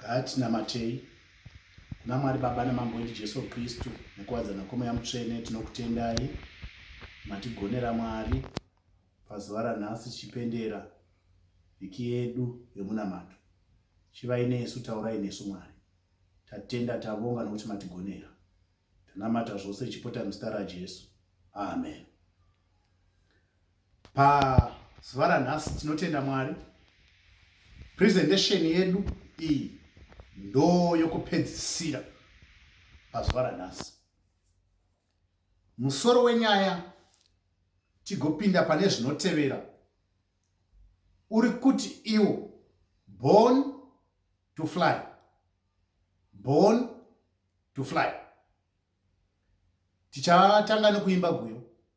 Ngatinamatei kuna Mwari Baba naMambo wedu Jesu Kristu nekuwadzana kweMweya Mutsvene. Tinokutendai matigonera Mwari pazuva ranhasi tichipendera vhiki yedu yemunamato. Chivai nesu, taurai nesu Mwari. Tatenda, tabonga nokuti matigonera. Tanamata zvose ichipota muzita raJesu. Amen. pazuva ranhasi tinotenda mwari presentesheni yedu iyi ndo yokupedzisira pazuva ranhasi musoro wenyaya tigopinda pane zvinotevera uri kuti iwo born to fly born to fly tichatanga nekuimba guyo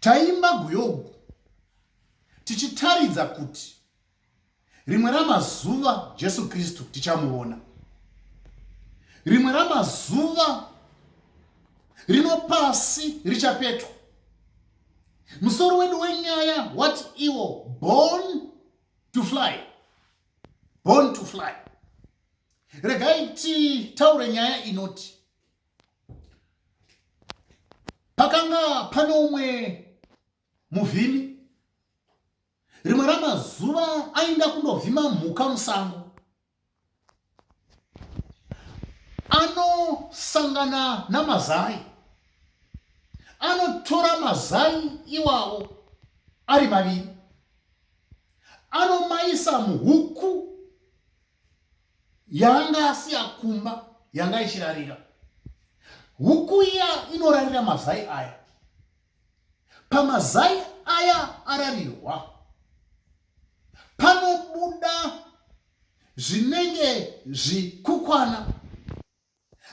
Taimba guyogu tichitaridza kuti rimwe ramazuva Jesu Kristu tichamuona. Rimwe ramazuva rino pasi richapetwa. Musoro wedu wenyaya wati iwo born to fly. Born to fly. Regai titaure nyaya inoti Pakanga pane umwe muvhimi. Rimwe ramazuva ainda kundovhima mhuka musango. Anosangana namazai. Anotora mazai iwawo ari maviri. Anomaisa muhuku yanga asiya kumba yanga ichirarira huku iya inorarira mazai aya pamazai aya ararirwa panobuda zvinenge zvikukwana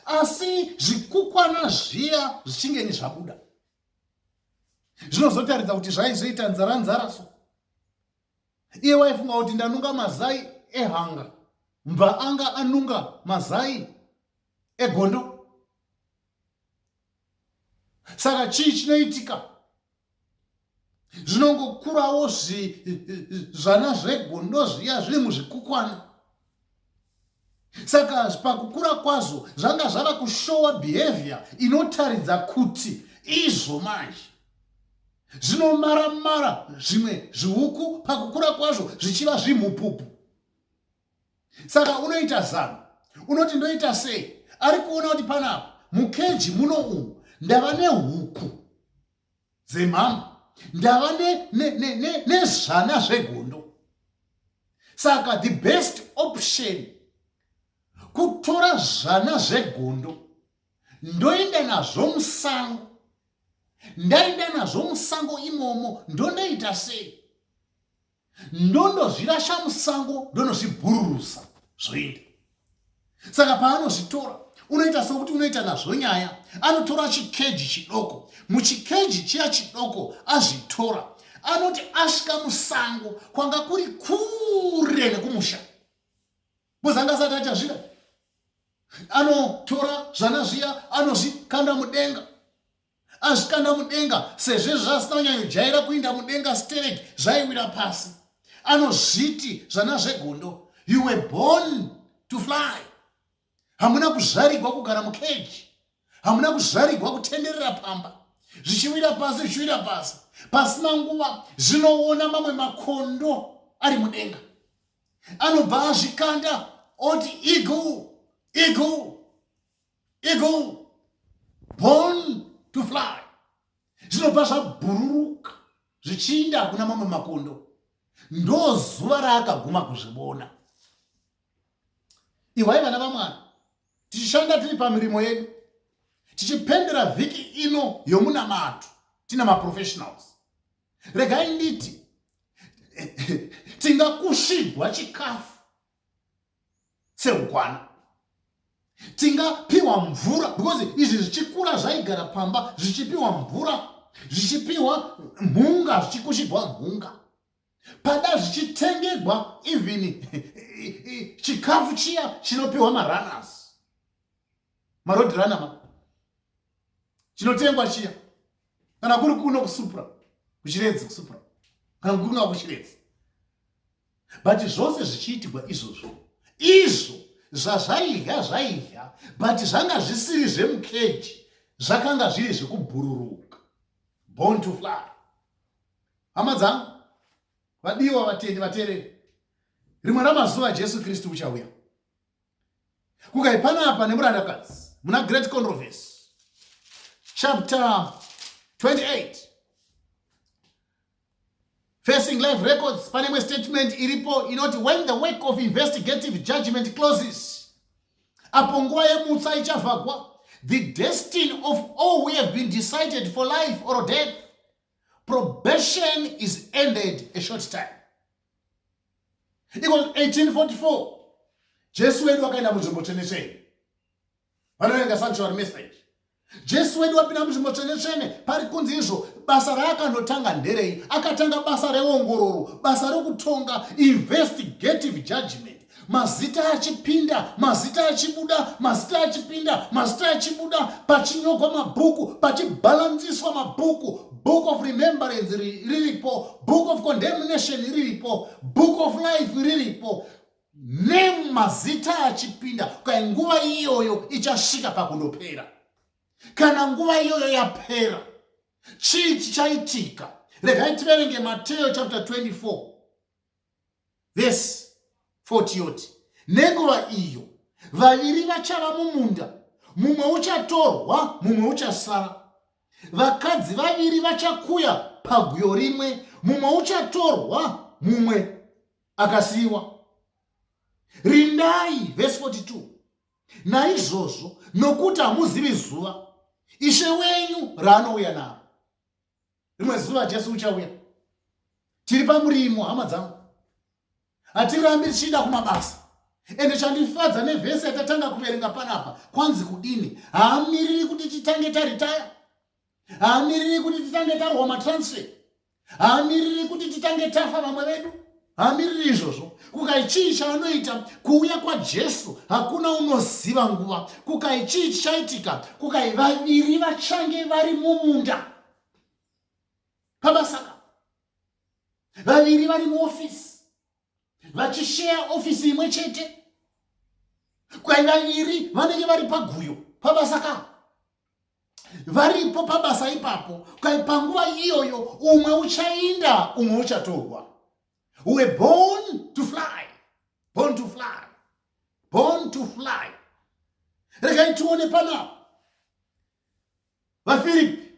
asi zvikukwana zviya zvichinge ni zvabuda zvinozotaridza kuti zvaizoita nzara nzara so iye waifunga kuti ndanunga mazai ehanga mbva anga anunga mazai egondo saka chii chinoitika zvinongokurawo zvana zvegondo zviya zviri muzvikukwana saka pakukura kwazvo zvanga zvava kushowa behavior inotaridza kuti izvo manje zvinomaramara zvimwe zviuku pakukura kwazvo zvichiva zvimhupupu saka unoita zano unoti ndoita sei ari kuona kuti panapa mukeji muno umu ndava nehuku dzemhambo ndava nezvana zvegondo saka the best option kutora zvana zvegondo ndoenda nazvo musango ndaenda nazvo musango imomo ndondoita sei ndondozvirasha musango ndonozvibhururusa zvoenda saka paanozvitora unoita sokuti unoita nazvo nyaya anotora chikeji chidoko muchikeji chiya chidoko azvitora anoti asvika musango kwanga kuri kure nekumusha bozanga asati achazvida anotora zvana zviya anozvikanda mudenga azvikanda mudenga sezvo izvo zvaasina kunyanyojaira kuinda mudenga sterek zvaiwira pasi anozviti zvana zvegondo you were born to fly hamuna kuzvarigwa kugara mukeji hamuna kuzvarigwa kutenderera pamba zvichiwira pasi zvichiwira pasi pasina nguva zvinoona mamwe makondo ari mudenga anobva azvikanda oti igu igu eagle born to fly zvinobva zvabhururuka zvichiinda kuna mamwe makondo ndo zuva raakaguma kuzvibona ihwai vana vamwana tichishanda tiri pamirimo yedu tichipendera vhiki ino yomunamato tina maprofessionals regai nditi tingakushigwa chikafu sehukwana tingapiwa mvura because izvi zvichikura zvaigara pamba zvichipiwa mvura zvichipiwa mhunga zvichikushigwa mhunga pada zvichitengegwa even chikafu chiya chinopiwa marunners maroad runner ma chinotengwa chiya kana kuri kuno kusupra kuchiredzi kusupra kana kuri kuno kuchiredzi but zvose zvichiitigwa izvozvo izvo zvazvaidya zvaidya but zvanga zvisiri zvemukeji zvakanga zviri zvekubhururuka born to fly hama dzangu vadiwa vatendi vatereri rimwe ramazuva jesu kristu uchauya kukai panapa nemurandakadzi muna great controversy chapter 28 facing life records pane imwe statement iripo inoti when the work of investigative judgment closes apo nguva yemutsa ichavhagwa the destiny of all we have been decided for life or death probation is ended a short time iko 1844 jesu wedu wakaenda munzvimbo tsvene tsvene vanoverenga sanctuary message jesu wedu wapinda munzvimbo tsvene tsvene pari kunzi izvo basa raakanotanga nderei akatanga basa reongororo basa rekutonga investigative judgment mazita achipinda mazita achibuda mazita achipinda mazita achibuda pachinyogwa mabhuku pachibhalansiswa mabhuku book of remembrance riripo book of condemnation riripo book of life riripo nemazita achipinda kai nguva iyoyo ichasvika pakundopera kana nguva iyoyo yapera chii chichaitika regai tiverenge mateyo chapter 24 vhesi 40 yoti nenguva iyo vaviri vachava mumunda mumwe uchatorwa mumwe uchasara vakadzi vaviri vachakuya paguyo rimwe mumwe uchatorwa mumwe akasiyiwa rindai vhesi 42 naizvozvo nokuti hamuzivi zuva ishe wenyu raanouya naro rimwe zuva jesu uchauya tiri pamurimo hama dzangu hatirambi tichienda kumabasa ende chandifadza nevhesi yatatanga kuverenga panapa kwanzi kudini haamiriri kuti titange taritaya haamiriri kuti titange tarwa matransfer haamiriri kuti titange tafa vamwe vedu hamiriri izvozvo kukai chii chaanoita kuuya kwajesu hakuna unoziva nguva kukai chii chichaitika kukai vaviri vachange vari mumunda pabasaka vaviri vari muofisi vachisheya ofisi imwe chete kukai vaviri vanenge vari paguyo pabasaka varipo pabasa ipapo kai panguva iyoyo umwe uchainda umwe uchatorwa we born to fly born to fly born to fly regai tione panapa vafiripi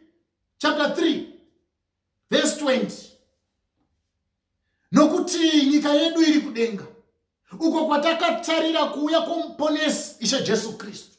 chapter 3 verse 20 nokuti nyika yedu iri kudenga uko kwatakatarira kuuya kwomuponesi ishe jesu kristu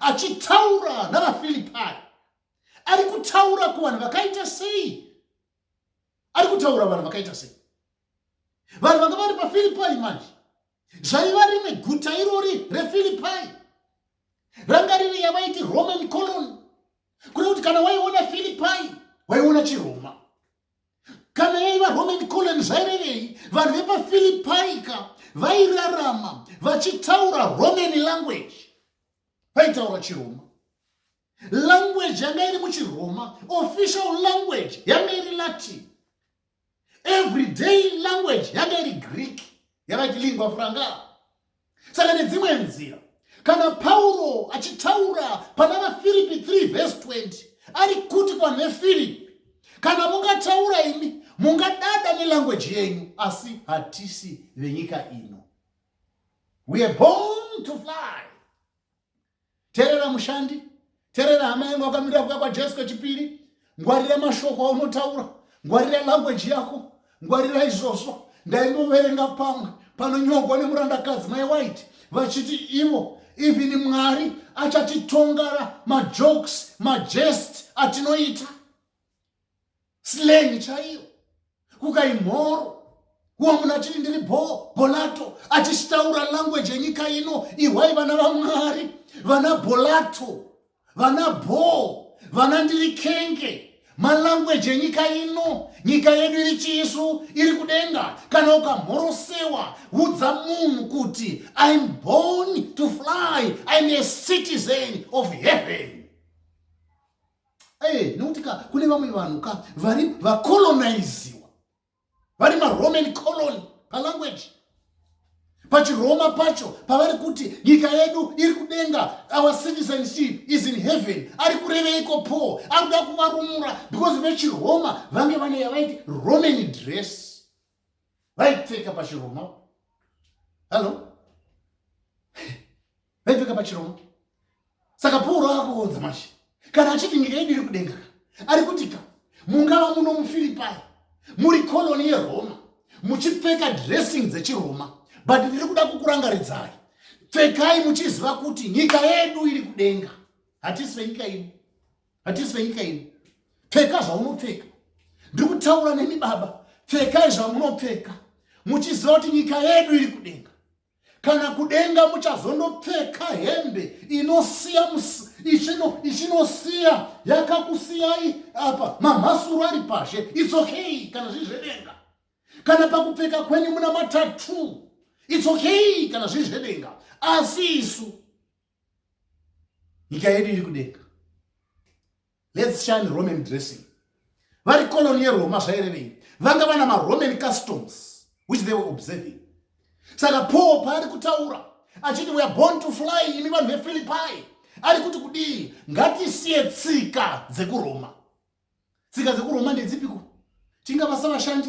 achitaura navafilipai ari kutaura kuvanhu vakaita sei ari kutaura vanhu vakaita sei vanhu vanga vari pafilipai manje zvaiva rimwe guta irori refilipai ranga riri yavaiti roman colony kune kuti kana waiona filipai waiona chiroma kana yaiva roman colon zvairevei vanhu vepafilipaika vairarama vachitaura roman language vaitaura chiroma language yanga iri muchiroma official language yanga iri latin everyday language yanga iri greek yavati lingua franga saka nedzimwe nzira kana pauro achitaura pana vafiripi 3 vhesi 20 ari kuti kwanefiripi kana mungataura imi mungadada nelangweji yenyu asi hatisi venyika ino weare born to fly terera mushandi terera hama yangu akamirira kuya kwajesu kwechipiri ngwarira mashoko aunotaura ngwarira language yako ngwarira izvozvo ndaingoverenga pamwe panonyogwa nemurandakadzi mai white vachiti ivo even mwari achatitongara majokes majest atinoita slang chaiyo kukai mhoro wamuna chiri ndiri bho bolato achitaura language yenyika ino ihwai vana vamwari vana bolato vana bho vana ndiri kenge malanguage enyika ino nyika yedu iri chiisu iri kudenga kana ukamhorosewa udza munhu kuti im born to fly im a citizen of heaven Hey, nokuti ka kune vamwe vanhu ka vari vakolonaiziwa vari maroman colony palanguage pachiroma pacho pavari kuti nyika yedu iri kudenga our citizenship is in heaven ari kureveiko paul ari kuda kuvarumura because vechiroma vange vane yavaiti roman dress vaipfeka pachiromo hallo vaipfeka pachiromo saka pauro akuunza manje kana achiti nyika yedu iri kudenga ari kuti ka mungava muno mufiripai muri koloni yeroma muchipfeka dressing dzechiroma but ndiri kuda kukurangaridzai pfekai muchiziva kuti nyika yedu iri kudenga hatisi venyika yedu hatisi venyika ino pfeka zvaunopfeka ndiri kutaura nemi baba pfekai zvamunopfeka muchiziva kuti nyika yedu iri kudenga kana kudenga muchazondopfeka hembe inosiya ichinosiya yakakusiyai apa mamhasuru ari pashe its okay kana zvii zvedenga kana pakupfeka kwenyu muna matatu its okay kana zvii zvedenga asi isu nyika yedu iri kudenga let's shine roman dressing vari colony yeroma zvairevei vanga vana maroman customs which they were observing saka paul paari kutaura achiti weare born to fly imi vanhu vefilipai ari kuti kudii ngatisiye tsika dzekuroma tsika dzekuroma ndedzipiko tingabasa vashandi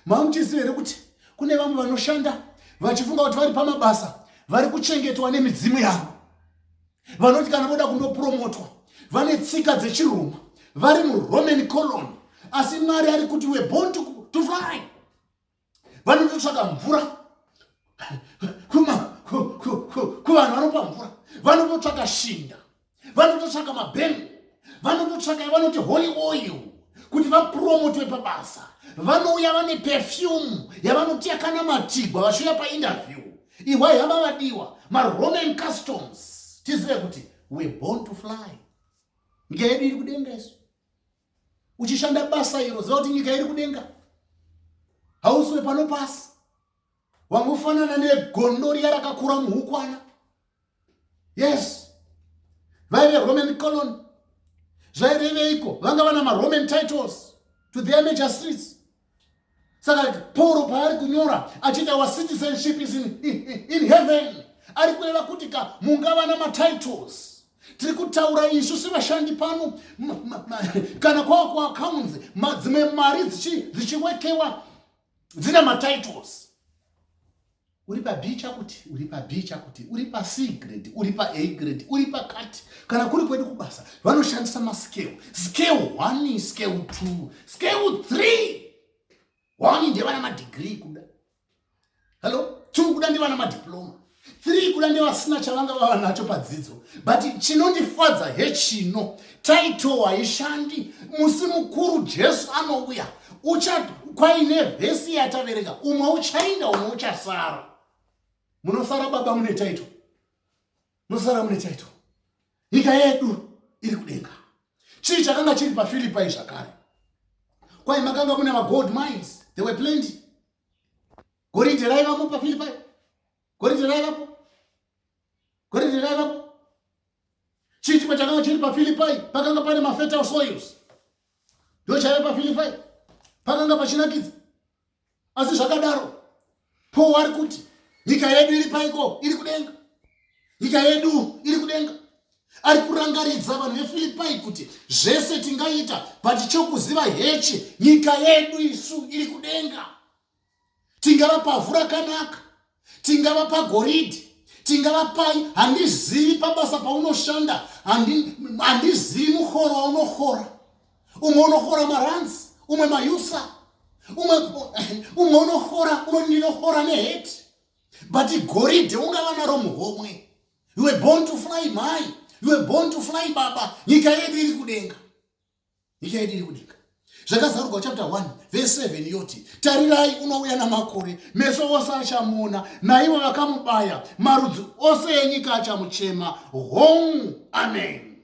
mamuchiziva here kuti kune vamwe vanoshanda vachifunga kuti vari pamabasa vari kuchengetwa nemidzimu yavo vanoti kana voda kundopromotwa vane tsika dzechiroma vari muroman colon asi mwari ari kuti weborn to, to fly vanototsvaka mvura kuvanhu vanopa mvura vanototsvaka shinda vanototsvaka mabhengo vanototsvaka vanoti holy oil kuti vapromotwe pabasa vanouya vane perfume yavanoti yakanamatigwa vachiuya painterview ihwai hava vadiwa maroman customs tizive kuti we born to fly nyika yedu iri kudenga isu uchishanda basa iro ziva kuti nyika iri kudenga hauswe pano pasi wangofanana negondo riya rakakura muhukwana yes vaive roman colony zvaireveiko vanga vana maroman titles to their major streets saka pauro paari kunyora achiita our citizenship is in, in, in heaven ari kureva kuti ka mungava na matitles tiri kutaura isu sevashandi pano kana kwava kuaccounts dzimwe mari dzichiwekewa dzina matitles uri pa b chakuti uri pa b chakuti uri pa c grade uri pa a grade uri pa cut kana kuri kwedu kubasa vanoshandisa mascale scale one scale two scale three one ndevana madegree kuda hallo two kuda ndevana madiploma three kuda ndevasina chavanga vava nacho padzidzo but chinondifadza hechino title haishandi musi mukuru jesu anouya ucha kwaine vhesi yatavereka umwe uchaenda umwe uchasara munosara baba mune title munosara mune title nyika yedu iri kudenga chii chakanga chiri pafilipai zvakare kwai makanga mune magold mines they were plenty goridhe raivamo pafilipai goridhe raivapo goridhe raivapo chii chimwe chakanga chiri pafilipai pakanga pane mafetal soils ndo chaive pafilipai pakanga pachinakidza asi zvakadaro po wari kuti nyika yedu iri paiko iri kudenga nyika yedu iri kudenga ari kurangaridza vanhu vefilipai kuti zvese tingaita but chokuziva hechi nyika yedu isu iri kudenga tingava pavhu rakanaka tingava pagoridhi tingava pai handizivi pabasa paunoshanda handizivi muhoro waunohora umwe unohora maranzi umwe mayusa umwe umwe unohora umwe ndinohora neheti but goridhe ungava naro muhomwe you were born to fly mhai you were born to fly baba nyika yedu iri kudenga nyika yedu iri kudenga zvakazarurwa chapter 1 vese 7 yoti tarirai unouya namakore meso ose achamuona naivo vakamubaya marudzi ose enyika achamuchema home amen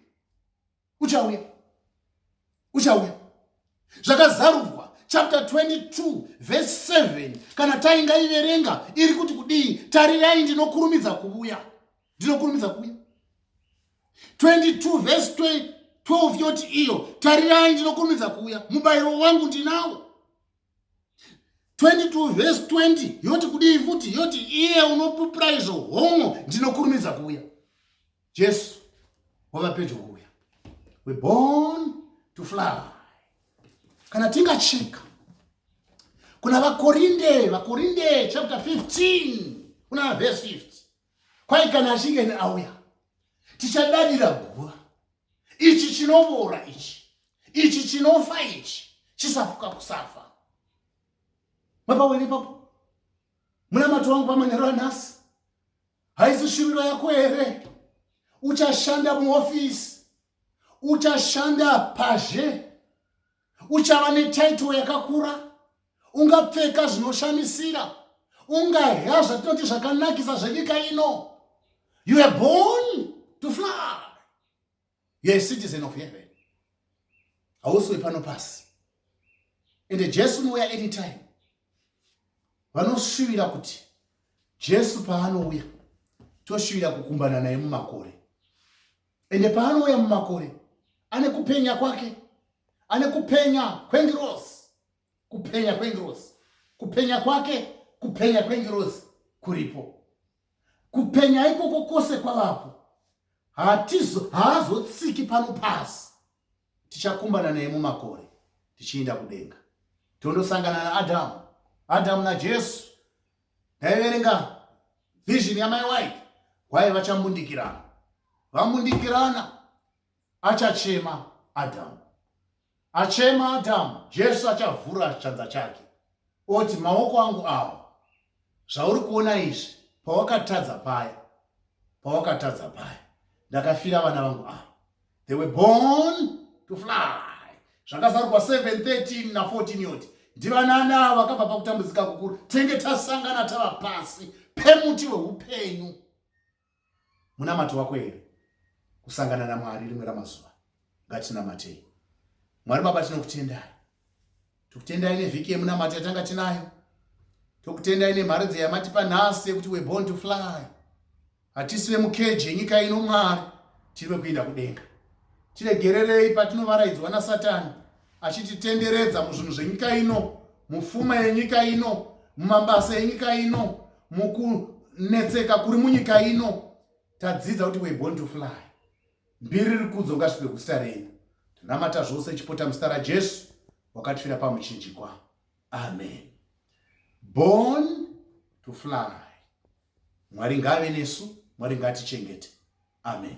uchauya uchauya zvakazarurwa chapter 22 vese 7 kana taingaiverenga iri kuti kudii tarirai ndinokurumidza kuvuya ndinokurumidza kuuya 22 vhesi 12 yoti iyo tarirai ndinokurumidza kuuya mubayiro wangu ndinawo 22 vhesi 20 yoti kudii futi yoti iye unopupira izvo homo ndinokurumidza kuuya jesu wava pedyo kuuya we born to fly kana tingacheka kuna vakorinde vakorinde chapter 15 kuna vhesi 50 kwai kana achinge ne auya tichadadira guva ichi chinovora ichi ichi chinofa ichi chisafuka kusafa mapawene ipapo munamato wangu pamanhero anhasi haisi shuviro yako here uchashanda muofisi uchashanda pazhe uchava netitle yakakura ungapfeka zvinoshamisira ungahya zvatinoti zvakanakisa zvenyika ino you are born to fly you are a citizen of heaven hausi wepano pasi ende jesu unouya anytime vanoshuvira kuti jesu paanouya toshuvira kukumbana naye mumakore ende paanouya mumakore ane kupenya kwake ane kupenya kwengirosi kupenya kwengirosi kupenya kwake kupenya kwengirosi kuripo kupenya ikoko kwose kwavapo hatizo haazotsiki pano pasi tichakumbana naye mumakore tichiinda kudenga tondosangana naadhamu adhamu najesu ndaiverenga vision yamai wai wai vachambundikirana vambundikirana achachema adhamu achema adhamu jesu achavhura chanza chake oti maoko angu awa zvauri kuona izvi pawakatadza paya pawakatadza paya ndakafira vana vangu ava they were born to fly zvakazarwa 713 na 14 yoti ndivanani ava vakabva pakutambudzika kukuru tenge tasangana tava pasi pemuti weupenyu munamato wako here kusangana namwari rimwe ramazuva ngatinamatei mwari baba tinokutendai tokutendai nevhiki yemunamato yatanga tinayo tokutendai nemharidzo yamatipa nhasi yekuti we born to fly hatisi vemukeji yenyika ino mwari tiri vekuinda kudenga tiregererei patinovaraidzwa nasatani achititenderedza muzvinhu zvenyika ino mufuma yenyika ino mumabasa yenyika ino mukunetseka kuri munyika ino tadzidza kuti we born to fly mbiri rikudzo ngasvipe kuzita renyu tinamata zvose chipota muzita rajesu wakatifira pamuchinjikwa amen born to fly mwari ngave nesu mwari ngatichengete amen